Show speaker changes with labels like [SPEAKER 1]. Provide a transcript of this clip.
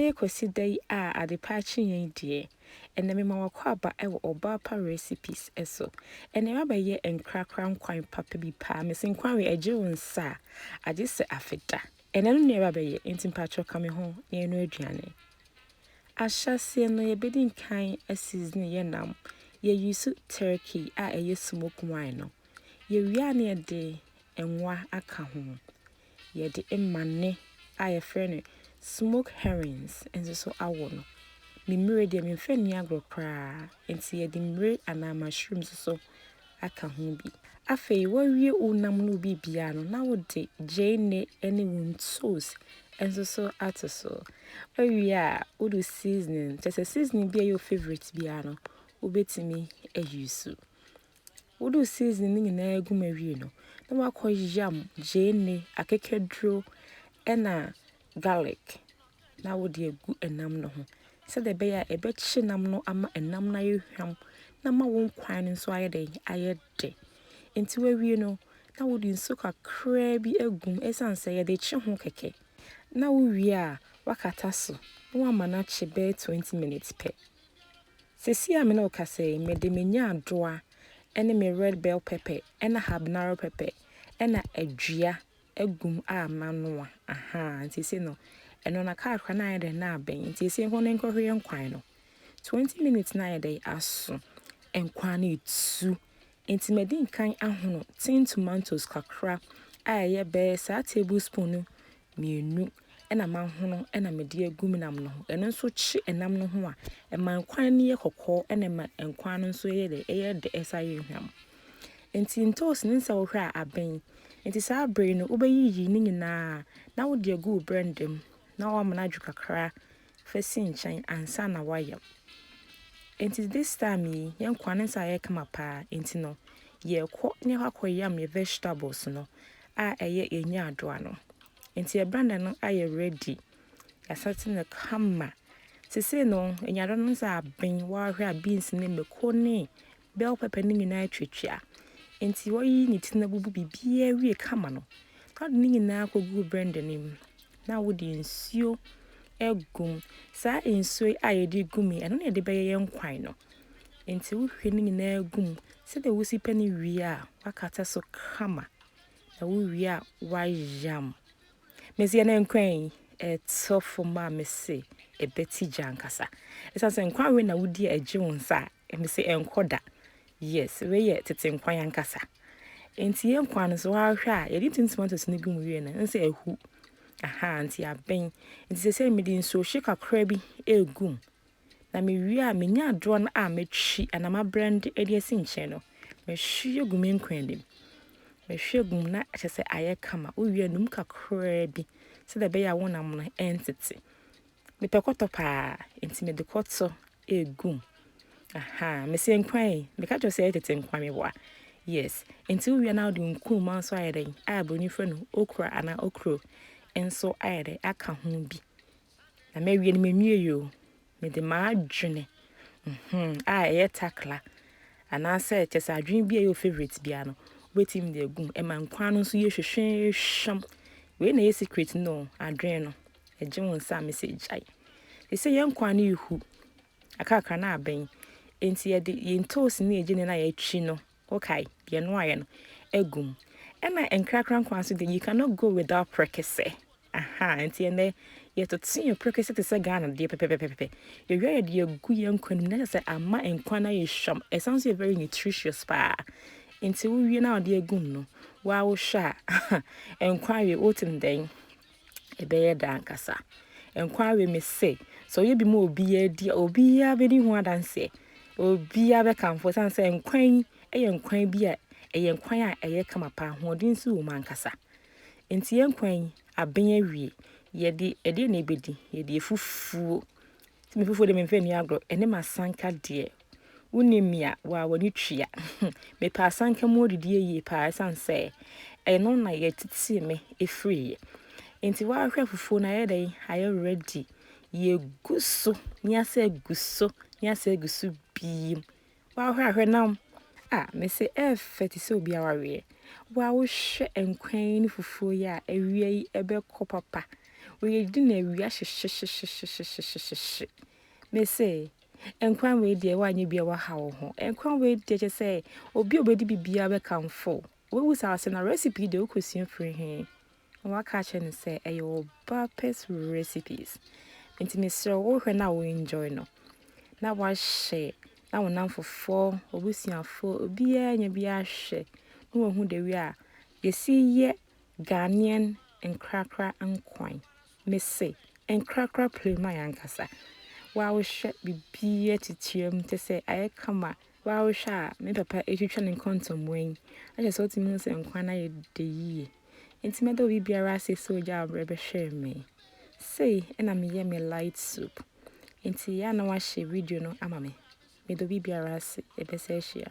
[SPEAKER 1] Ɛbɛyɛ Kwasi da yi a adepa akyeeɛ yi deɛ, ɛnnɛ mema w'akwaaba wɔ ɔbaa pa recipes so. Ɛnnɛ mabɛyɛ nkrakra nkwan papa bi paa, mese nkwan wei ɛgye wo nsa a, agye sɛ afe da. Ɛnnɛ no nnuaba bɛyɛ, nti mpakyɛw ka me ho na yɛnoa aduane. Ahyɛaseɛ no yɛbɛdi nkan aseasone yɛ nam, yɛ use turkey a ɛyɛ smoked wine no, yɛwie a na yɛde nwa aka ho. Yɛde mmane a yɛfrɛ no smoked herrings nso so awɔ no. Me mmire deɛ memfa nni agorɔ koraa, enti yɛde mmire anaa mushrooms nso so aka ho bi. Afei woawie wo nam ne wo biribiara no, na wode gyeene ne wo ntos nso so ato so. Woawie a, wode wo seasoning, kyerɛ sɛ seasoning bi a ɛyɛ wo favourite biara no, wobɛtumi ayi so. Wode wo seasoning no nyinaa gu mu awie no, na wakɔ yam gyeene, akekaduro ɛna garlic na wode agu ɛnam no ho sɛdeɛ ɛbɛyɛ a ɛbɛkye nam no ama ɛnam no ayɛ hwam na ama wo nkwan no nso ayɛ dɛn, ayɛ dɛ. Nti wawie no, na wode nsuo kakraa bi agu mu ɛsiane sɛ yɛde kye ho kɛkɛ. Na wowie a, wakata so na wama no akye bɛyɛ 20 minutes pɛ. Seesei a me ne wo kasa yi, mede me nyaadoa ne me red bell pepper na habanero pepper na adua agu mu a manoa. Ahaa, nti seesei no, ɛno na kakra na ayɛ dɛn na abɛn. Nti seesei nkɔ na nkɔhwie nkwan no. 20 minutes na ayɛ dɛn aso. Nkwan no etu. Nti madi nkan ahono tin tomatoes kakra a ɛyɛ bɛyɛ saa tablespoon mmienu na mahono na mede agu me nam no ho. Ɛno nso kye nam no ho a, ɛma nkwan no yɛ kɔkɔɔ na ɛma nkwan no nso yɛ dɛ, ɛyɛ dɛ ɛsan yɛ hwam. Nti ntoosi no nsɛ wohwɛ a aben. Nti saa bere no wobɛyiyi ne nyinaa na wode agu wo blender mu na woama no adwo kakra fa si nkyɛn ansa na woayam. Enti this time yi, yɛn nkoa ne nsa ayɛ kama paa, enti no, yɛrekɔ na yɛakɔ akɔyam yɛn vegetables no a ɛyɛ yɛn nyaadoa no. Enti yɛn blender no ayɛ ready, yɛasɛte no kama. Sesei no, nyaadoa no nsa aben, woahwɛ a beans ne mako ne bell pepper no nyinaa atwatwa. Enti wayiyi ne ti no abubu biribiara awie kama no, na ɔde ne nyinaa kɔguu blender no mu. Na wode nsuo agu mu. Saa nsuo yi a yɛde gu mu yi, ɛno na yɛde bɛyɛ yɛn nkwan no. Enti wohwie ne nyinaa gu mu sɛdeɛ wosi pɛ no wie a, wakata so kama. Na wowie a, wayam. Mesi ɛna nkwan yi, ɛtɔ fam a mese ɛbɛti gya ankasa. Ɛsiane sɛ nkwan wei na wodi a ɛgye wo nsa a, Ɛnde se ɛnkɔ da. Yes, wei yɛ tete nkwan ankasa. Enti yɛn nkwan no so ahwɛ a, yɛde tin tomatoes no gu mu wie no, ɛnde sɛ ahu. Aha, nti aben. Nti sɛsɛ mede nsuo hye kakra bi ɛregu mu. Na me wie a, menya adorɔ no a matwi anaa mabrɛnde ɛde asi nkyɛn no, mahwie gu me nkwan no mu. Mahwie gu mu na kyɛ sɛ ayɛ kama. Wowie a, num kakraa bi sɛdeɛ ɛbɛyɛ a wo nam no ɛntete. Mepɛ kɔtɔ paa, nti mede kɔtɔ egum. Aha, mesɛ nkwan yi, meka kyerɛ sɛ tete nkwan me boa. Yes, nti wowia na wode nkuruma nso ayɛ dɛn? A broni frɛ no okra anaa okro nso ayɛ dɛn aka ho bi. Na mawie no menwie yo. Mede m'adwene mhm a ɛyɛ takla anaasɛ kyɛ sɛ adwene bi a ɛyɛ favorite bia no wobɛtumi de agum ɛma nkwan no nso yɛ hwehwehwɛm wei na ɛyɛ secret no adwene no Ɛgye wo nsa a mese gyae. Te sɛ yɛn nkwa ne hu. Akrakra na abɛn. Enti yɛde yɛn toes ne yɛn gyene na yɛatwi no. Wokae? Yɛnoaeɛ no. Agu mu. Ɛna nkrakra nkwa nso de, you cannot go without prekese. Aha, nti ɛnɛ yɛtotoe prekese te sɛ Ghana deɛ pɛpɛpɛpɛpɛ. Yɛwia yɛde yɛgu yɛn nkwa no mu na kyerɛ sɛ ama nkwa no ayɛ hwam. Ɛsan so yɛ very nutritious paa. Nti wowie na wode agu mu no, woawohwɛ a nkwa awie wote no dɛn? ɛbɛyɛ dɛ ankasa. Nkwa awe me se, sɛ ɔyɛ bi ma obiara di a, obiara bɛdi ho adanseɛ. Obiara bɛkamfo ɛsiane sɛ nkwa yi yɛ nkwa bi a ɛyɛ nkwa a ɛyɛ kama paa, ahoɔden nso wɔ mu ankasa. Enti yɛn nkwa yi abɛn awie. Yɛde ɛdeɛn na ɛbɛdi? Yɛde afufuo. Sɛ me fufuo deɛ memfa nni agorɔ, ɛne m'asanka deɛ Wonim me a, waa w'ani tua. Mepɛ asanka mu adidie yie paa ɛsiane sɛ ɛno na yɛtetee me ɛfiriiɛ. Nti woahwɛ fufuo no ayɛ dɛn ayɛ ready. Yɛgu so ne asɛ gu so ne asɛ gu so biem. Woahwɛ ahwɛ nam a mese ɛɛfɛ te sɛ obi awareɛ. Wo a wohwɛ nkwan yi ne fufuo yi a awia yi ɛbɛkɔ papa. Woyɛdi na awia hyehyehyehyehyehyehyehye. Mese Nkwa wei deɛ woanyɛ bi a woaha wo ho. Nkwa wei deɛ kyɛ sɛ obi a obɛdi biribiara bɛkamfo wo. Woawu saa ase na recipe deɛ wokɔsua firi he? Na waka akyerɛ no sɛ ɛyɛ wɔ Bapes recipes. Nti mesrɛ wo wohwɛ na wo enjoy no. Na wahyɛ na wo namfofoɔ, w'abusuafoɔ, obiara nya bi ahwɛ na wahu the way a yɛsi yɛ Ghanaian nkrakra nkwan mese nkrakra playman ankasa wa wo hwɛ biribiaa titirim te sɛ ayɛ kama wa wo hwɛ a me papa ɛtwitwa ne nkɔntɔmua yi akyɛ sɛ wotumi hu sɛ nkwan no ayɛ dɛ yie nti mɛda obi biara ase sɛ ogya abrɛ bɛhwɛɛ me sei ɛna meyɛ me light soup nti yɛ na wahyɛ video no ama me meda obi biara ase ɛbɛsɛ ahyia